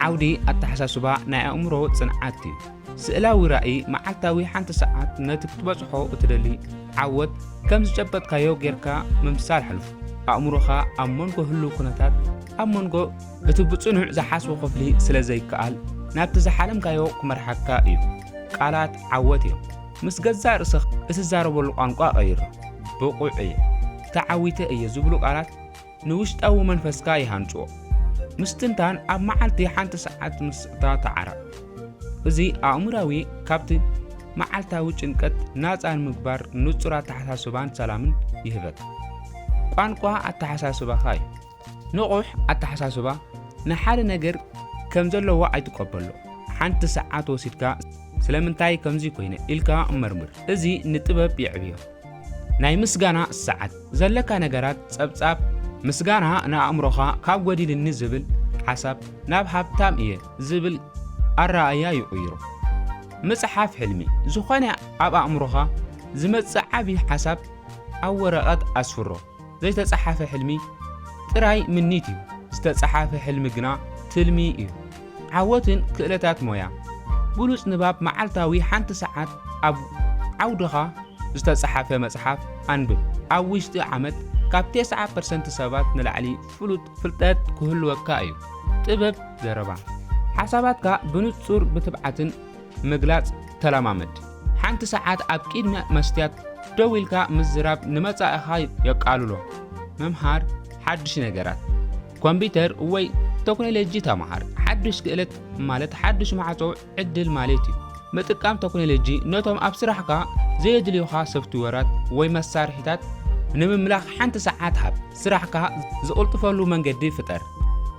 ዓውዲ ኣተሓሳስባ ናይ ኣእምሮ ጽንዓት እዩ። ስእላዊ ራኢ መዓልታዊ ሓንቲ ሰዓት ነቲ ክትበጽሖ እትደሊ ዓወት ከም ዝጨበጥካዮ ጌርካ ምምሳል ሓልፉ። ኣእምሮኻ ኣብ መንጎ ህሉው ኩነታት ኣብ መንጎ እቲ ብጽኑዕ ዝሓስቦ ክፍሊ ስለ ዘይከኣል ናብቲ ዝሓለምካዮ ክመርሓካ እዩ። ቃላት ዓወት እዮም። ምስ ገዛእ ርእስኻ እትዛረበሉ ቋንቋ ቀይሮ። ብቑዕ እየ፣ ተዓዊተ እየ ዝብሉ ቃላት ንውሽጣዊ መንፈስካ ይሃንጽዎ። ምስትንታን ኣብ መዓልቲ ሓንቲ ሰዓት ምስእታ ተዓረቕ። እዚ ኣእምራዊ ካብቲ መዓልታዊ ጭንቀት ናጻ ንምግባር ንጹር ኣተሓሳስባን ሰላምን ይህበካ። ቋንቋ ኣተሓሳስባኻ እዩ። ንቑሕ ኣተሓሳስባ ንሓደ ነገር ከም ዘለዎ ኣይትቀበሎ። ሓንቲ ሰዓት ወሲድካ ስለምንታይ ከምዚ ኮይነ ኢልካ መርምር። እዚ ንጥበብ የዕብዮ። ናይ ምስጋና ሰዓት፣ ዘለካ ነገራት ጸብጻብ፣ ምስጋና ንኣእምሮኻ ካብ ጐዲልኒ ዝብል ሓሳብ ናብ ሃብታም እየ ዝብል ኣረኣእያ ይቕይሮ። ምጽሓፍ ሕልሚ፣ ዝኾነ ኣብ ኣእምሮኻ ዝመጽእ ዓቢ ሓሳብ ኣብ ወረቐት ኣስፍሮ። ዘይተጸሓፈ ሕልሚ ጥራይ ምኒት እዩ ዝተጸሓፈ ሕልሚ ግና ትልሚ እዩ ዓወትን ክእለታት ሞያ ብሉጽ ንባብ መዓልታዊ ሓንቲ ሰዓት ኣብ ዓውድኻ ዝተጸሓፈ መጽሓፍ ኣንብብ ኣብ ውሽጢ ዓመት ካብ ቴስዓ ፐርሰንት ሰባት ንላዕሊ ፍሉጥ ፍልጠት ክህልወካ እዩ ጥበብ ዘረባ ሓሳባትካ ብንጹር ብትብዓትን ምግላጽ ተለማመድ። ሓንቲ ሰዓት ኣብ ቂድሚ መስትያት ደው ኢልካ ምዝራብ ንመጻኢኻ የቃልሎ። ምምሃር ሓድሽ ነገራት ኮምፒተር ወይ ቶክኖሎጂ ተምሃር። ሓድሽ ክእለት ማለት ሓድሽ ማዕጾ ዕድል ማለት እዩ። ምጥቃም ቶክኖሎጂ ነቶም ኣብ ስራሕካ ዘየድልዩኻ ሶፍትዌራት ወይ መሳርሒታት ንምምላኽ ሓንቲ ሰዓት ሃብ። ስራሕካ ዝቕልጥፈሉ መንገዲ ፍጠር።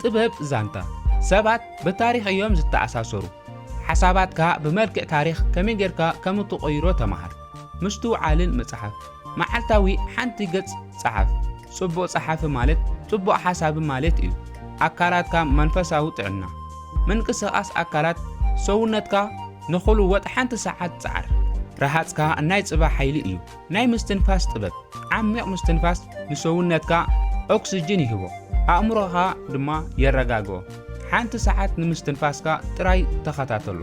ጥበብ ዛንታ ሰባት ብታሪኽ እዮም ዝተኣሳሰሩ። ሓሳባትካ ብመልክዕ ታሪኽ ከመይ ጌርካ ከም እትቕይሮ ተማሃር። ምስትውዓልን ምጽሓፍ። መዓልታዊ ሓንቲ ገጽ ጸሓፍ። ጽቡቕ ጸሓፊ ማለት ጽቡቕ ሓሳቢ ማለት እዩ። ኣካላትካ መንፈሳዊ ጥዕና። ምንቅስቓስ ኣካላት ሰውነትካ ንኽልወጥ ሓንቲ ሰዓት ጸዓር። ረሃጽካ ናይ ጽባሕ ሓይሊ እዩ። ናይ ምስትንፋስ ጥበብ፣ ዓሚቕ ምስትንፋስ ንሰውነትካ ኦክስጅን ይህቦ፣ ኣእምሮኻ ድማ የረጋግኦ። ሓንቲ ሰዓት ንምስትንፋስካ ጥራይ ተኸታተሎ።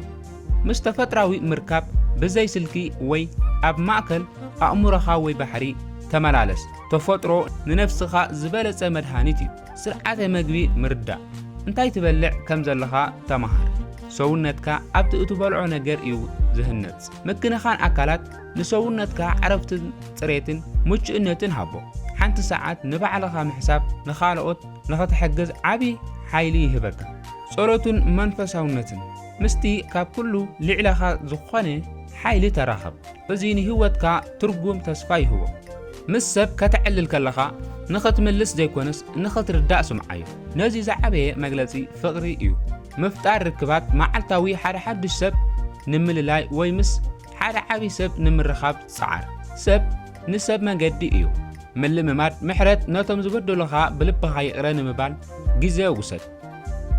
ምስ ተፈጥራዊ ምርካብ ብዘይ ስልኪ ወይ ኣብ ማእከል ኣእምሮኻ ወይ ባሕሪ ተመላለስ። ተፈጥሮ ንነፍስኻ ዝበለጸ መድሃኒት እዩ። ስርዓተ መግቢ ምርዳእ፣ እንታይ ትበልዕ ከም ዘለኻ ተማሃር። ሰውነትካ ኣብቲ እትበልዖ ነገር እዩ ዝህነጽ። ምክንኻን ኣካላት፣ ንሰውነትካ ዕረፍትን ጽሬትን ምቹእነትን ሃቦ። ሓንቲ ሰዓት ንባዕልኻ ምሕሳብ ንኻልኦት ንኽትሕግዝ ዓቢ ሓይሊ ይህበካ። ጸሎትን መንፈሳውነትን፣ ምስቲ ካብ ኩሉ ልዒለኻ ዝኾነ ሓይሊ ተራኸብ። እዚ ንህይወትካ ትርጉም ተስፋ ይህቦ። ምስ ሰብ ከተዕልል ከለኻ ንኽትምልስ ዘይኮነስ ንኽትርዳእ ስምዓዮ። ነዚ ዝዓበየ መግለጺ ፍቕሪ እዩ። ምፍጣር ርክባት መዓልታዊ ሓደ ሓድሽ ሰብ ንምልላይ ወይ ምስ ሓደ ዓቢ ሰብ ንምርኻብ ጸዓር። ሰብ ንሰብ መንገዲ እዩ። ምልምማድ ምሕረት ነቶም ዝበደሉኻ ብልብኻ ይቕረ ንምባል ግዜ ውሰድ።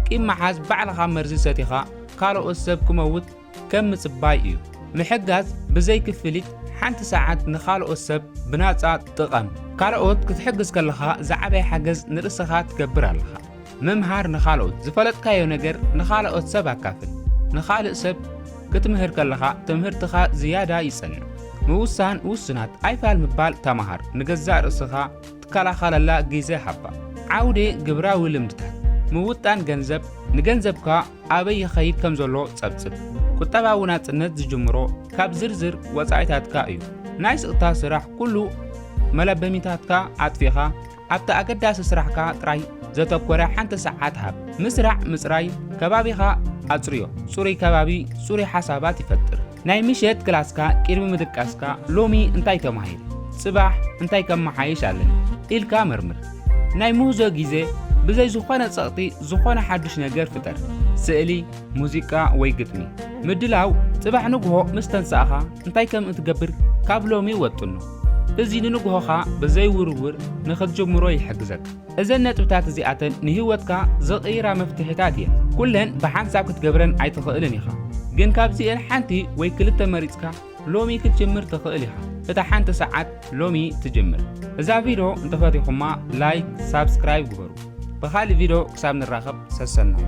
ቂም መሓዝ ባዕልኻ መርዚ ሰቲኻ ካልኦት ሰብ ክመውት ከም ምጽባይ እዩ። ምሕጋዝ ብዘይ ክፍሊት ሓንቲ ሰዓት ንኻልኦት ሰብ ብናጻ ጥቐም። ካልኦት ክትሕግዝ ከለኻ ዝዓበየ ሓገዝ ንርእስኻ ትገብር ኣለኻ። ምምሃር ንኻልኦት፣ ዝፈለጥካዮ ነገር ንኻልኦት ሰብ ኣካፍል። ንኻልእ ሰብ ክትምህር ከለኻ ትምህርትኻ ዝያዳ ይጸንዕ። ምውሳን ውሱናት፣ ኣይፋል ምባል ተማሃር፣ ንገዛእ ርእስኻ ትከላኸለላ ግዜ ሃባ። ዓውደ ግብራዊ ልምድታት ምውጣን ገንዘብ ንገንዘብካ ኣበይ ይኸይድ ከም ዘሎ ጸብጽብ። ቁጠባዊ ናጽነት ዝጅምሮ ካብ ዝርዝር ወጻኢታትካ እዩ። ናይ ስቕታ ስራሕ ኩሉ መለበሚታትካ ኣጥፊኻ ኣብቲ ኣገዳሲ ስራሕካ ጥራይ ዘተኮረ ሓንቲ ሰዓት ሃብ። ምስራዕ ምጽራይ ከባቢኻ ኣጽርዮ፣ ጽሩይ ከባቢ ጽሩይ ሓሳባት ይፈጥር። ናይ ምሸት ክላስካ ቅድሚ ምድቃስካ ሎሚ እንታይ ተማሂረ፣ ጽባሕ እንታይ ከመሓይሽ ኣለኒ ኢልካ መርምር። ናይ ምህዞ ግዜ ብዘይ ዝኾነ ጸቕጢ ዝኾነ ሓድሽ ነገር ፍጠር፣ ስእሊ፣ ሙዚቃ ወይ ግጥሚ። ምድላው ጽባሕ ንግሆ ምስ ተንሳእኻ እንታይ ከም እትገብር ካብ ሎሚ ወጥኖ። እዚ ንንግሆኻ ብዘይ ውርውር ንኽትጅምሮ ይሕግዘካ። እዘን ነጥብታት እዚኣተን ንህይወትካ ዝቕይራ መፍትሒታት እየን። ኩለን ብሓንሳብ ክትገብረን ኣይትኽእልን ኢኻ፣ ግን ካብዚኤን ሓንቲ ወይ ክልተ መሪጽካ ሎሚ ክትጅምር ትኽእል ኢኻ። እታ ሓንቲ ሰዓት ሎሚ ትጅምር። እዛ ቪድዮ እንተፈቲኹማ ላይክ ሳብስክራይብ ግበሩ። ብኻልእ ቪድዮ ክሳብ ንራኸብ ሰሰናዩ።